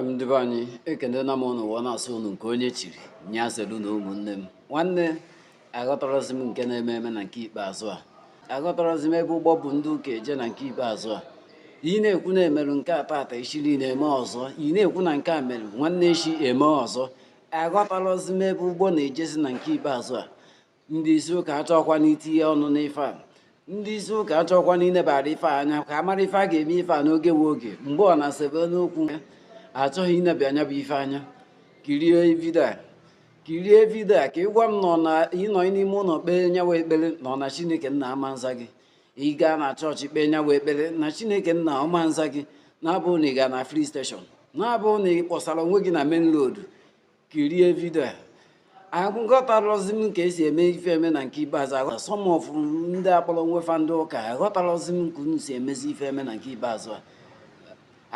ndị be anyị ekenela m ụnụ wee na-asị ụnụ nke onye chiri nya zelu na ụmụnne m nwanne aghọtarazi m nke na-eme eme na nke ikpeazụ a aghọtarazi m ebe ụgbọ bu ndị ụka eje na nke ikpeazụ a ị na-ekwu na e meru nke a tata echi niile eme ọzọ ị na-ekwu na nke a mere nwanne echi eme ọzọ aghọtarazi m ebe ụgbọ na-ejezi na nke ikpeazụ a ndị isi ụka achọkwanụ itinye ọnụ n'ife a ndị isi ụka achọkwanụ inebara ife anya ka a mara ife a ga-eme ife a n'oge nwe oge mgbe ọ na-asebe n'okwu achọghị ineba nya bụ ife anya kirie vidio a kirie vidio a ka ị gwa m na ọ na ị nọ n'ime ụlọ kpee nya wụ ekpere na ọ na chineke nna ama nza gị ị gaa na chọọchị kpee nya wụ ekpere na chineke nna ama nza gị na-abụ na ị gaa na filling station na-abụ na ị kpọsara onwe gị na main road kirie vidio a aghọtarọzi m ka esi eme ife eme na nke ikpeazụ a some of ndị akpọrọ onwe fa ndị ụka aghọtarọzi m ka unu si emezi ife eme na nke ikpeazụ a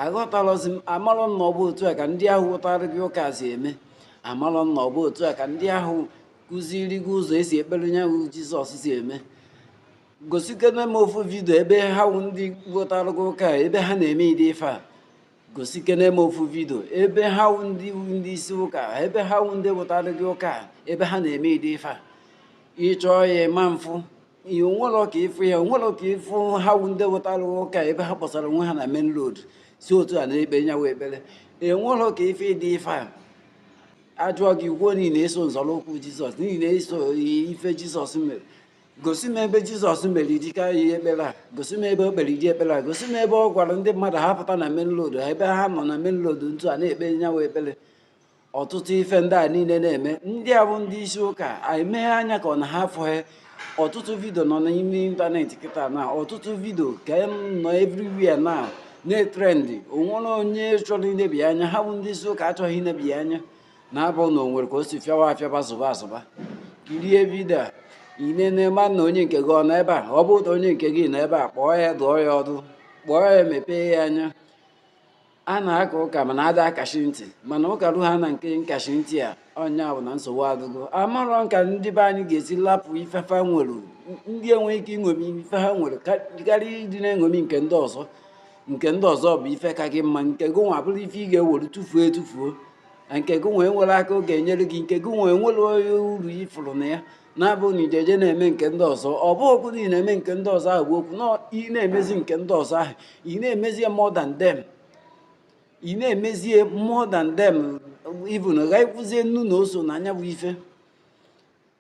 aghọtarọzi m amarọ m na ọ bụ otu a ka ndị ahụ wetara gị ụka si eme amarọ m na ọ bụ otu a ka ndị ahụ kụziri gị ụzọ esi ekpere nya wụ jizọs si eme gosikene m ofu vidio ebe ha wụ ndị wetara gị ụka ebe ha na-eme ụdị ife a gosi kene m ofu vidio ebe ha wụ ndị isi ụka ebe ha wụ ndị wetara gị ụka a, ebe ha na-eme ụdị ife a ị chọọ ya ị ma mfụ ya i nwerọ ike ịfụ ya i nwerọ ike ịfụ ha wụ ndị wetara gị ụka ebe ha kpọsara onwe ha na main road si otu a na-ekpe nya wụ ekpere i nwerọ ike ịfụ ụdị ife a a jụọ gị i kwuo na ị na-eso nzọrọ ụkwụ jizọs na ị na-eso ife jizọs mere gosi m ebe jizọs mere ụdị ihe ekpere a gosi m ebe o kpere ụdị ekpere a gosi m ebe ọ gwara ndị mmadụ ha pụta na main road ebe ha nọ na main road otu a na-ekpe nya wụ ekpere ọtụtụ ife ndị a niile na-eme ndị a bụ ndị isi ụka anyị meghe anya ka ọ na ha afụghị ọtụtụ vidio nọ n'ime ịntanetị kịta na ọtụtụ vidio ka e nọ everywhere na na-etrendị o nwerọ onye chọrọ ineba ya anya ha bụ ndị isi ụka achọghị ineba ya anya na-abụ na o nwere ka o si fịawa afịaba zụba azụba kirie vidio a i nene ma na onye nke gị ọ nọ ebe a ọ bụ na onye nke gị nọ ebe a kpọọ ya dụọ ya ọdụ kpọọ ya mepee ya anya a na-aka ụka mana ada akashi ntị mana ụka rue na nke nkashi ntị a nya bụ na nsogbu adịgo amarọ m ka ndị be anyị ga-esi lapụ ife fa nwere ndị enweghị ike iṅomi ife ha nwere karịa ịdị na-eṅomi nke ndị ọzọ nke ndị ọzọ bụ ife ka gị mma nke gị nwa bụrụ ife ị ga-ewere tufuo etufuo na nke gị nwa enwerọ aka ọ ga-enyere gị nke gị nwa enwerọ uru ị fụrụ na ya na-abụ na ijeje na-eme nke ndị ọzọ ọ bụrụkwa na ị na-eme nke ndị ọzọ ahụ ọ bụrụkwa na ị na-emezi nke ndị ọzọ ahụ ị na-emezi ya more than them ị na-emezi ya more than them even ghakwuzie nnu na oso na nya bụ ife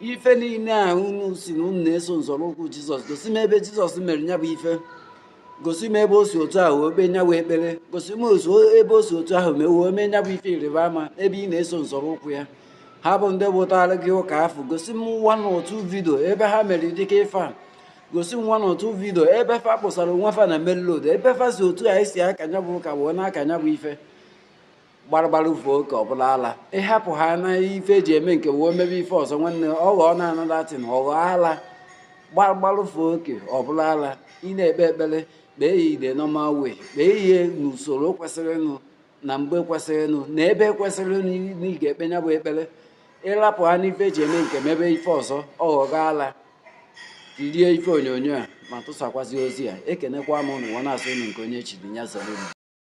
ife niile a unu si na unu na-eso nzọrọụkwụ jizọs gosi m ebe jizọs mere ya bụ ife gosi m ebe o si otu ahụ ekpe nya bụ ekpere gosi m ebe o si otu ahụ mee wee mee nya bụ ife ịrịba ama ebe ị na-eso nzọrọụkwụ ya ha bụ ndị butara gị ụka afụ gosi m nwa na otu vidio ebe ha mere dịka ife a gosi m nwa na otu vidio ebe fa kpọsara onwe fa na main road ebe fa si otu a esi aka nya bụ ụka wee na-aka nya bụ ife gbaragbara fee oke ọ bụrụ ala ịhapụ ha na ife eji eme nke wee mebe ife ọzọ nwanne ọ ghọọ another thing ọ ghọọ ala gbaragbara fee oke ọ bụrụ ala ị na-ekpe ekpere kpee ya in the normal way kpee ihe n'usoro kwesịrịnụ na mgbe kwesịrịnụ na ebe kwesịrịnụ na ị ga-ekpe ya bụ ekpere ịrapụ ha n'ife eji eme nke mebe ife ọzọ ọ ghọgo ala kirie ife onyonyo a ma tụsakwazi ozi a ekenekwa m ụnụ nwa na-asị ụnụ nke onye chiri ya zere